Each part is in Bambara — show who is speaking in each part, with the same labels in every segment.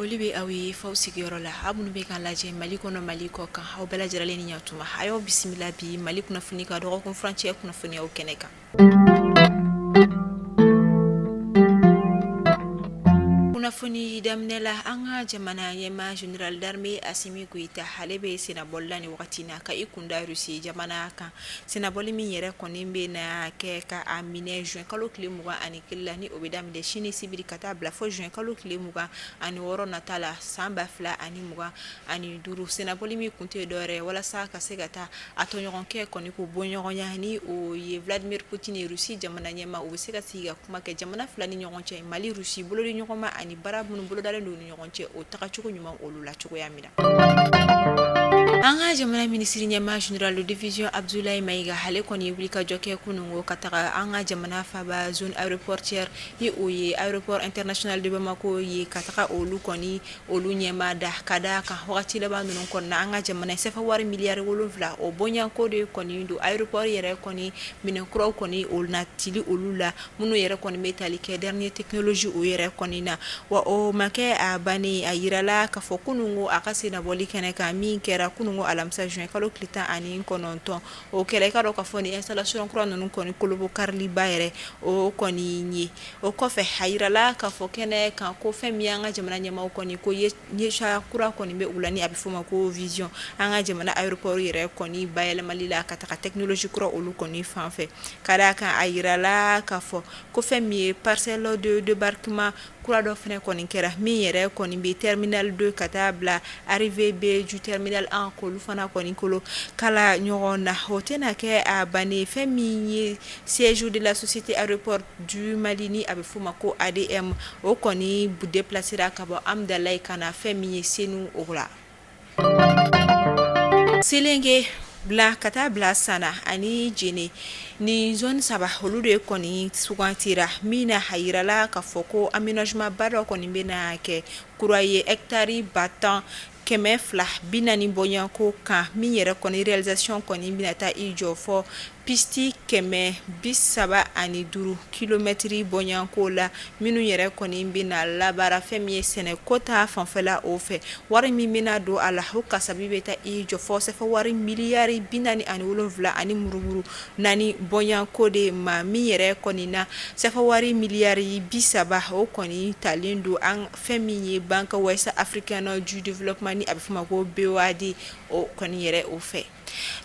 Speaker 1: foli bɛ aw ye f'aw sigiyɔrɔ la aw minnu bɛ k'an lajɛ mali kɔnɔ mali kɔ kan aw bɛɛ lajɛlen ni ɲatuma a y'aw bisimila bi mali kunnafoni ka dɔgɔkun furancɛ kunnafoniyaw kɛnɛ kan Kunnafoni daminɛ la an ka jamana ɲɛmaa général d'armée Assimi Goïta ale bɛ sennabɔli la ni wagati in na ka i kunda rusi jamana kan sennabɔli min yɛrɛ kɔni bɛ na kɛ ka a minɛ zuwɛnkalo tile mugan ani kelen la ni o bɛ daminɛ sini sibiri ka taa bila fo zuwɛnkalo tile mugan ani wɔɔrɔ nata la san ba fila ani mugan ani duuru sennabɔli min kun tɛ dɔwɛrɛ walasa ka se ka taa A tɔɲɔgɔnkɛ kɔni ko bɔɲɔgɔnya ni o ye Vladimir Poutine ye rusi jamana ɲɛmaa u bɛ se ka sigi ka kuma kɛ jamana fila ni ɲɔgɔn cɛ mali rusi bolodiɲɔgɔnma ani baara minnu bolodalen don ni ɲɔgɔn cɛ o tagacogo ɲuman olu la cogoya min na an ka jamana minisiri ɲɛmaa général de division Abdoulaye Maïga ale kɔni ye wulikajɔ kɛ kunungo ka taga an ka jamana faba zone aéroportuaire ni o ye aéroport international de Bamako ye ka taga olu kɔni olu ɲɛmaa da ka d'a kan wagati laban ninnu kɔnɔna an ka jamana ye sefawari miliyari wolonwula o bɔɲɔgɔnko de kɔni don aéroport yɛrɛ kɔni minɛn kuraw kɔni o natili olu la minnu yɛrɛ kɔni bɛ tali kɛ dernier technologie o yɛrɛ kɔni na wa o ma kɛ a bannen a jirala k'a fɔ kunungo a ka sennabɔli kɛnɛ kan min kɛra kunungo alamisa zuwɛnkalo tile tan ani kɔnɔntɔn O kɛlen i k'a dɔn k'a fɔ nin installation kura ninnu kɔni kolobokariliba yɛrɛ o kɔni ye o kɔfɛ a jirala ka fɔ kɛnɛ kan ko fɛn min ye an ka jamana ɲɛmaaw kɔni ko yecogoya kura kɔni bɛ u la ni a bɛ f'o ma ko vision an ka jamana aéroport yɛrɛ kɔni bayɛlɛmali la ka taga technologie kura olu kɔni fan fɛ ka d'a kan a jirala ka fɔ ko fɛn min ye parcelle de débarquement kura dɔ fana kɔni kɛra min yɛrɛ kɔni bɛ terminal deux ka taa bila arrivée B du terminal un k'olu fana kɔni kolo kala ɲɔgɔn na o tɛna kɛ a bannen fɛn min ye siège de la société aéroport du mali ni a bɛ f'a ma ko ADM o kɔni déplacera ka bɔ Hamdallaye ka na fɛn min ye Senu o la Selenge bila ka taa bila san ani Jene nin zone saba olu de kɔni sugandira min na a jirala ka fɔ ko aménagement ba dɔ kɔni bɛ na kɛ kura ye ɛkitari ba tan kɛmɛ fila bi naani bɔɲɔgɔnko kan min yɛrɛ kɔni réalisation kɔni bɛna taa i jɔ fo Pisiti kɛmɛ bi saba ani duuru kilomɛtiri bɔɲɔgɔnko la minnu yɛrɛ kɔni bɛna labaara fɛn min ye sɛnɛko ta fanfɛla o fɛ wari min bɛna don a la o kasabi bɛ taa i jɔ fo sefa wari miliyari bi naani ani wolonwula ani murumuru naani bɔɲɔgɔnko de ma min yɛrɛ kɔni na sefa wari miliyari bi saba o kɔni talen don an fɛn min ye Banque Ouest Africaine du Développement ni a bɛ fɔ ma ko BOAD o kɔni yɛrɛ o fɛ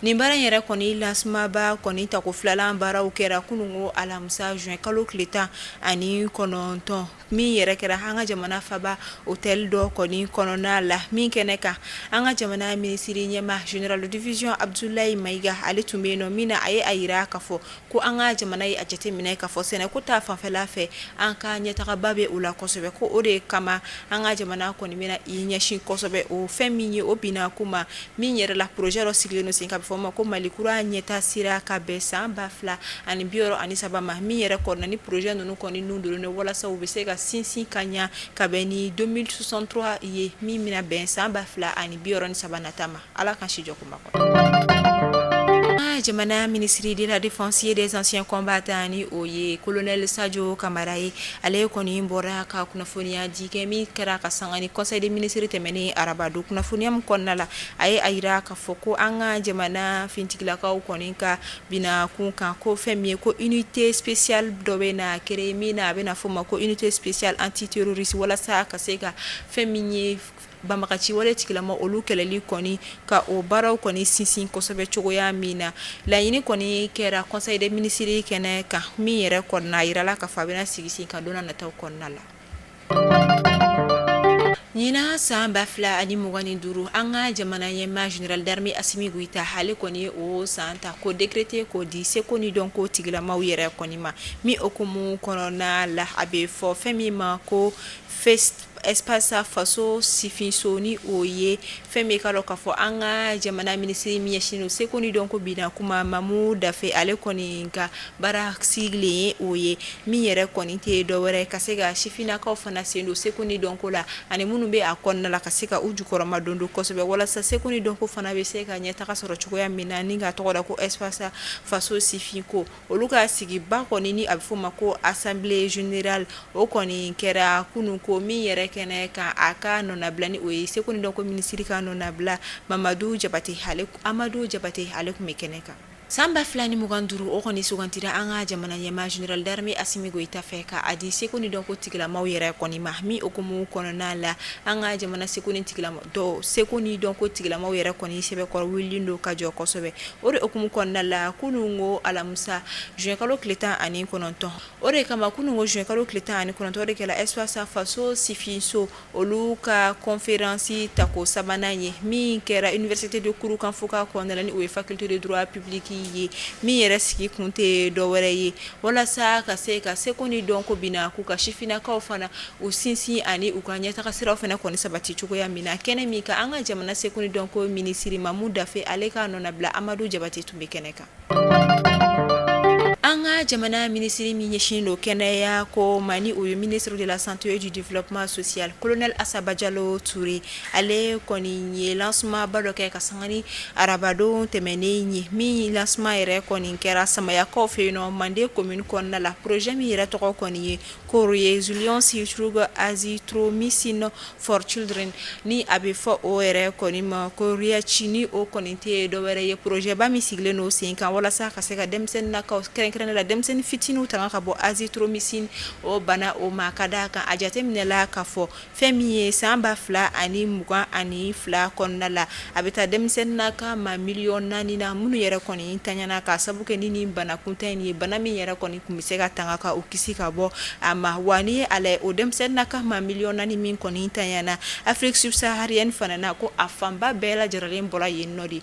Speaker 1: Nin baara yɛrɛ kɔni lancement ba kɔni tako filanan baaraw kɛra kunun alamisa zuwɛn kalo tile tan ani kɔnɔntɔn min yɛrɛ kɛra an ka jamana faba otɛli dɔ kɔni kɔnɔna la min kɛnɛ kan an ka jamana minisiri ɲɛma général de division Abudulayi Mayiga ale tun bɛ yen nɔ min na a ye a jira k'a fɔ ko an ka jamana ye a jateminɛ ka fɔ sɛnɛko ta fanfɛla fɛ an ka ɲɛtagaba bɛ o la kosɛbɛ ko o de kama an ka jamana kɔni bɛna i ɲɛsin kosɛbɛ o fɛn min ye o bina kuma min yɛrɛ la poroze dɔ sigilen sen kan a bɛ fɔ ma ko mali kura ɲɛtaa sira ka bɛn san ba fila ani bi wɔɔrɔ ani saba ma min yɛrɛ kɔnɔna ni poroze ninnu kɔni ninnu don walasa u bɛ se ka sinsin ka ɲɛ ka bɛn ni deux mille soixante-trois ye min bɛna bɛn san ba fila ani bi wɔɔrɔ ni saba nata ma Ala k'an si jɔ kuma kɔ an ka jamana ministre de la défense et des anciens combattants ni o ye kolonɛli Sajo Kamara ye ale kɔni bɔra ka kunnafoniya di kɛ min kɛra ka sanga ni conseil des ministres tɛmɛnen arabadon kunnafoniya min kɔnɔna la a ye a jira k'a fɔ ko an ka jamana finitigilakaw kɔni ka bina kunkanko fɛn min ye ko unité spéciale dɔ bɛna créer min na a bɛna fɔ o ma ko unité spéciale antiterroriste walasa ka se ka fɛn min ye Banbaga ci wale tigilama olu kɛlɛli kɔni ka o baaraw kɔni sinsin kosɛbɛ cogoya min na laɲini kɔni kɛra conseil des ministres kɛnɛ kan min yɛrɛ kɔnɔna a jirala ka fɔ a bɛna sigi sen kan don nataw kɔnɔna la ɲinan san ba fila ani mugan ni duuru an ka jamana ɲɛma général d'armée Asimi Goyita ale kɔni ye o san ta ko décréter k'o di seko ni dɔnko tigilamaw yɛrɛ kɔni ma min hukumu kɔnɔna la a bɛ fɔ fɛn min ma ko espace faso sifinso ni o ye fɛn bɛ ka dɔn k'a fɔ an ka jamana minisiri min ɲɛsinnen don seko ni dɔnko bina kuma Mamu Dafe ale kɔni ka baara sigilen ye o ye min yɛrɛ kɔni tɛ dɔ wɛrɛ ye ka se ka sifinnakaw fana sen don seko ni dɔnko la ani minnu bɛ a kɔnɔna la ka se ka u jukɔrɔmadondon kosɛbɛ walasa seko ni dɔnko fana bɛ se ka ɲɛtaga sɔrɔ cogoya min na ni ka tɔgɔ da ko espace faso sifinko olu ka sigiba kɔni ni a bɛ fɔ ma ko assemblée générale o kɔni kɛra kunun ko min yɛrɛ kɛnɛ kan a ka nɔnabila ni o ye seko ni dɔnko minisiri ka nɔnabila Mamadu Jabate Amadu Jabate ale tun bɛ kɛnɛ kan san ba fila ni mugan duuru o kɔni sugantira an ka jamana ɲɛma général d'armée Asimi Goyita fɛ ka a di seko ni dɔnko tigilamaw yɛrɛ kɔni ma min hukumu kɔnɔna la an ka jamana seko ni tigila dɔw seko ni dɔnko tigilamaw yɛrɛ kɔni sɛbɛkɔrɔ wulilen don ka jɔ kosɛbɛ o de hukumu kɔnɔna la kunun ko alamisa zuwɛnkalo tile tan ani kɔnɔntɔn o de kama kunun ko zuwɛnkalo tile tan ani kɔnɔntɔn de kɛra Espace Faso Sifinso olu ka kɔnfɛransi tako sabanan ye min kɛra université de Kurukanfuga kɔnɔ ni o ye faculté de droit public ye min yɛrɛ sigi kun tɛ dɔwɛrɛ ye walasa ka se ka seko ni dɔnko binna k'u ka sifinnakaw fana u sinsin ani u ka ɲɛtaga siraw fana kɔni sabati cogoya min na kɛnɛ min kan an ka jamana seko ni dɔnko minisiri Mamu Dafe ale ka nɔnabila Amadu Jabate tun bɛ kɛnɛ kan an ka jamana minisiri min ɲɛsin don kɛnɛya ko ma ni o ye ministre de la santé et du développement social kolonɛli Asa Bajalo Ture ale kɔni ye lancement ba dɔ kɛ ka sanga ni arabadon tɛmɛnen ye min lancement yɛrɛ kɔni kɛra samayakaw fɛ yen nɔ Manden komini kɔnɔna la poroze min yɛrɛ tɔgɔ kɔni ye Ko Resiliency through azithromycin for children ni a bɛ fɔ o yɛrɛ kɔni ma ko REACH ni o kɔni tɛ dɔwɛrɛ ye porozeba min sigilen don sen kan walasa ka se ka denmisɛnninnakaw kɛrɛnkɛrɛnnen la denmisɛnnin fitininw tanga ka bɔ azithromycin o bana o ma ka da a kan a jateminɛna k'a fɔ Fɛn min ye san ba fila ani mugan ani fila kɔnɔna la a bɛ taa denmisɛnninnaka maa miliyɔn naani na minnu yɛrɛ kɔni taɲana k'a sabu kɛ ni bana kuntan in ye bana min yɛrɛ kɔni tun bɛ se ka tanga ka u kisi ka bɔ a ma wa ni Ala o denmisɛnninnaka maa miliyɔn naani min kɔni taɲana Afrique subsaharienne fana na ko a fanba bɛɛ lajɛlen bɔra yen nɔ de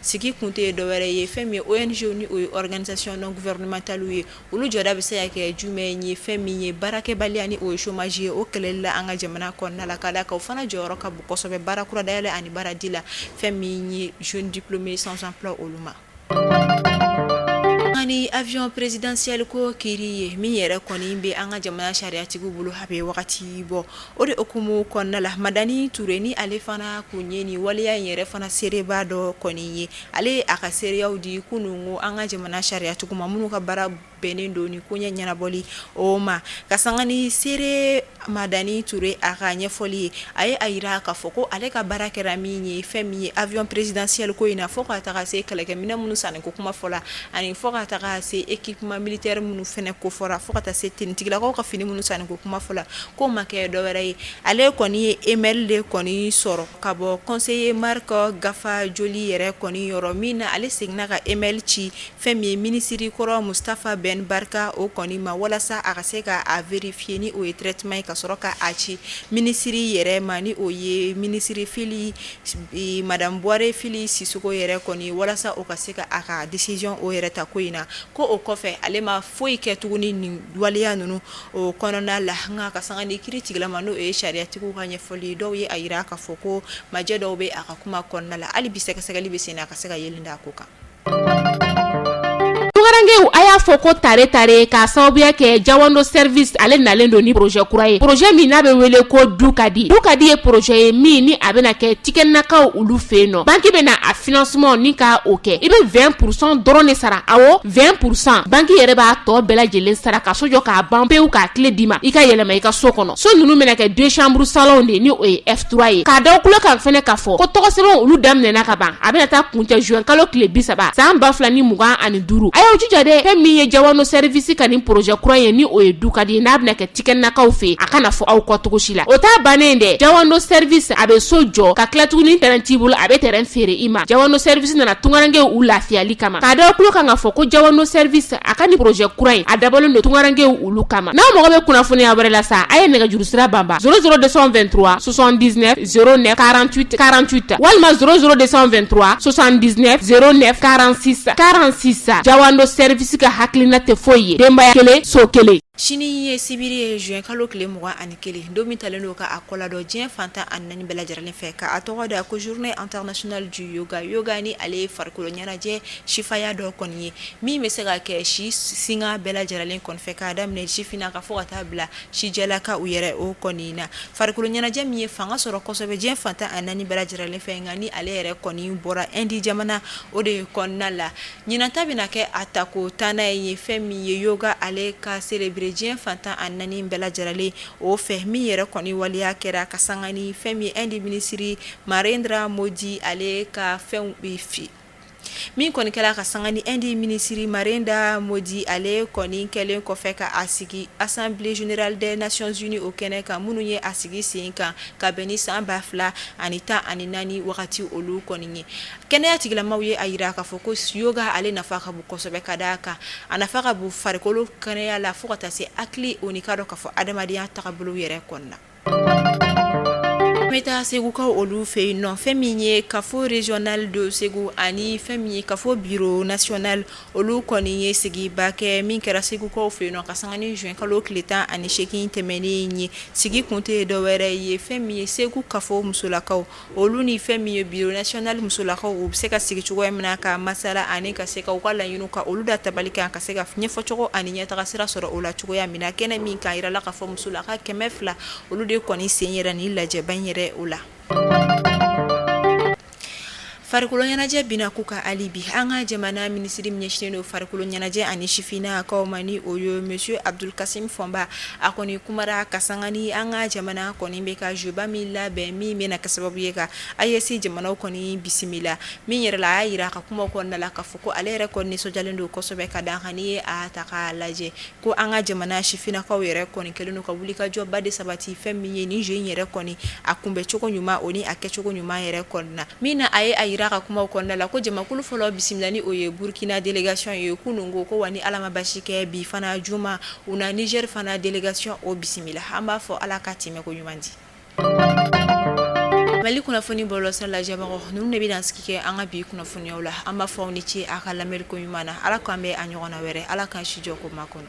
Speaker 1: sigi kun tɛ ye dɔwɛrɛ ye fɛn min ye ONG ni o ye organisation non gouvernementale ye olu jɔda bɛ se ka kɛ jumɛn ye fɛn min ye baarakɛbaliya ni o ye chômage ye o kɛlɛli la an ka jamana kɔnɔna la ka d'a kan o fana jɔyɔrɔ ka bon kosɛbɛ baara kura dayɛlɛ ani baaradi la fɛn min ye jeune diplômé sans emploi olu ma ani avion présidentiel ko kiiri ye min yɛrɛ kɔni bɛ an ka jamana sariyatigiw bolo a bɛ wagati bɔ O de hukumu kɔnɔna la Madani Ture ni ale fana tun ye nin waleya in yɛrɛ fana seereba dɔ kɔni ye, ale ye a ka seereyaw di kunun ko an ka jamana sariyatigiw ma minnu ka baara bɛnnen don nin koɲɛ ɲɛnabɔli o ma, ka sanga ni seere Madani Ture a ka ɲɛfɔli ye, a ye a jira k'a fɔ ko ale ka baara kɛra min ye, fɛn min ye avion présidentiel ko in na fo ka taga se kɛlɛkɛminɛn minnu sanni ko kuma fɔra ani fo ka taga se équipement militaire minnu fana ko fɔra fo ka taga se tenue tigilakaw ka fini minnu sanni ko kuma fɔra ko ma kɛ dɔwɛrɛ ye ale kɔni ye email de kɔni sɔrɔ ka bɔ conseiller Marc Gaffajoli yɛrɛ kɔni yɔrɔ min na ale seginna ka email ci fɛn min ye minisiri kɔrɔ Mustafa Bɛn Barika o kɔni ma walasa a ka se k' a vérifier ni o ye traitement ye ka sɔrɔ k' a ci minisiriri yɛrɛ ma ni o ye minisiri Fili madamu Buware Fili Sisoko yɛrɛ kɔni walasa o ka se ka a ka décision o yɛrɛ ta ko in na ko o kɔfɛ ale ma foyi kɛ tuguni ni waleya ninnu O kɔnɔna la nka ka sanga ni kiri tigilama n'o ye sariyatigiw ka ɲɛfɔli dɔw ye a jira k'a fɔ ko majɛ dɔw bɛ a ka kuma kɔnɔna la hali bi sɛgɛsɛgɛli bɛ sen na ka se ka yeelen da a ko kan
Speaker 2: tungarankew a y'a fɔ ko tare tare ka sababuya kɛ jawando service ale nalen don ni projet kura ye projet min n'a bɛ wele ko du ka di du ka di ye projet ye min ni a bɛna kɛ tikɛnakaw olu fɛ yen nɔ banque bɛna a financement ni ka o kɛ i bɛ 20 pour 100 dɔrɔn de sara a 20 pour 100 banque yɛrɛ b'a tɔ bɛɛ lajɛlen sara ka so jɔ k'a ban pewu k'a kile d'i ma i ka yɛlɛma i ka so kɔnɔ so ninnu bɛna kɛ deux chambre salon de ni o ye F3 ye k'a da tulo kan fɛnɛ k'a fɔ ko tɔgɔsɛbɛn olu daminɛna ka ban a bɛna taa kuncɛ juin kalo tile bi saba san ba fila ni mugan ani duuru a y'aw jija dɛ fɛn min ye jawando service ka nin projet kura ye ni o ye du ka di n'a bɛna kɛ tikɛnakaw fɛ a kana fɔ aw kɔ cogo si la o t'a bannen dɛ jawando service a bɛ so jɔ ka tila tuguni tɛrɛn t'i bolo a bɛ tɛrɛn feere i ma jawando service nana tungarankew u lafiyali kama k'a da tulo kan ka fɔ ko jawando service a ka ni projet kura in a dabɔlen don tungarankew olu kama n'aw mago bɛ kunnafoniya wɛrɛ la sa a ye nɛgɛjuru sira banba 00223 79 09 48 48 walima 00223 79 09 46 46 jawando service ka hakilina tɛ foyi ye denbaya kelen so kelen
Speaker 1: Sini ye sibiri ye juin kalo tile mugan ani kelen don min talen don k'a kɔladon diɲɛ fan tan ani naani bɛɛ lajɛrɛlen fɛ ka a tɔgɔ da ko journée internationale du yoga yoga ni ale ye farikolo ɲɛnajɛ sifaya dɔ kɔni ye min bɛ se ka kɛ si sinka bɛɛ lajɛrɛlen kɔni fɛ k'a daminɛ sifinnakaw fo ka taa bila sijɛlakaw yɛrɛ o kɔni na farikolo ɲɛnajɛ min ye fanga sɔrɔ kosɛbɛ diɲɛ fan tan ani naani bɛɛ lajɛrɛlen fɛ nka ni ale yɛrɛ kɔni bɔra Indi jamana o de ye kɔnɔna la Ɲinanta bɛna kɛ a tako tannan ye fɛn min ye yoga ale ka célébrer diɲɛ fan tan ani naani bɛɛ lajɛrɛlen o fɛ min yɛrɛ kɔni waleya kɛra ka sanga ni fɛn min ye Indi minisiri Narendra Modi ale ka fɛn bɛ fili min kɔni kɛra ka sanga ni Indi minisiri Narendra Modi ale kɔni kɛlen kɔfɛ ka a sigi Assemblée générale des Nations Unies o kɛnɛ kan minnu ye a sigi sen kan ka bɛn ni san ba fila ani tan ani naani wagati olu kɔni ye Kɛnɛya tigilamaw ye a jira k'a fɔ ko yoga ale nafa ka bon kosɛbɛ ka d'a kan a nafa ka bon farikolo kɛnɛya la fo ka taa se hakili o n'i ka dɔn k'a fɔ adamadenya tagabolo yɛrɛ kɔnɔna na, an bɛ taa segukaw olu fɛ yen nɔ fɛn min ye kafo régional de Segu ani fɛn min ye kafo bureau national olu kɔni ye sigiba kɛ min kɛra segukaw fɛ yen nɔ ka sanga ni juin kalo tile 18 tɛmɛnen in ye sigi kun tɛ dɔwɛrɛ ye fɛn min ye segu kafo musolakaw Olu ni fɛn min ye bureau national musolakaw u bɛ se ka sigi cogoya min na ka masala ani ka se ka u ka laɲiniw ka olu da tabali kan ka se ka ɲɛfɔcogo ani ɲɛtaga sira sɔrɔ o la cogoya min na kɛnɛ min kan a jirala k'a fɔ musolaka kɛmɛ fila olu de kɔni sen yɛrɛ ni lajɛba in yɛrɛ o la farikolo ɲɛnajɛ bɛna k'u ka hali bi an ka jamana minisiri min ɲɛsinnen don farikolo ɲɛnajɛ ani sifinnakaw ma ni o ye monsieur Abdul Kasim Fɔnba a kɔni kumara ka sanga ni an ka jamana kɔni bɛ ka jeu ba min labɛn min bɛna kɛ sababu ye ka AES jamanaw kɔni bisimila min yɛrɛ la a y'a jira a ka kuma kɔnɔna la k'a fɔ ko ale yɛrɛ kɔni nisɔndiyalen don kosɛbɛ ka d'a kan n'i ye a ta k'a lajɛ ko an ka jamana sifinnakaw yɛrɛ kɔni kɛlen don ka wulikajɔba de sabati fɛn min ye ni jeu in yɛrɛ kɔni a kunbɛncogo ɲuman o ni a kɛcogo ɲuman yɛrɛ kɔnɔna na min na a ye a jira a ka kuma kɔnɔna la ko jamakulu fɔlɔ bisimila ni o ye burukina délégation ye kunun ko wa ni ala ma basi kɛ bi fana juma U na Niger fana délégation o bisimila an b'a fɔ ala ka tɛmɛ ko ɲuman di mali kunnafoni bɔlɔlɔsira lajɛbagaw ninnu de bɛ dansigi kɛ an ka bi kunnafoniw la an b'a fɔ aw ni ce a ka lamɛnni ko ɲuman na ala k'an bɛn a ɲɔgɔnna wɛrɛ ala k'an sijɔ ko ma kɔnɔ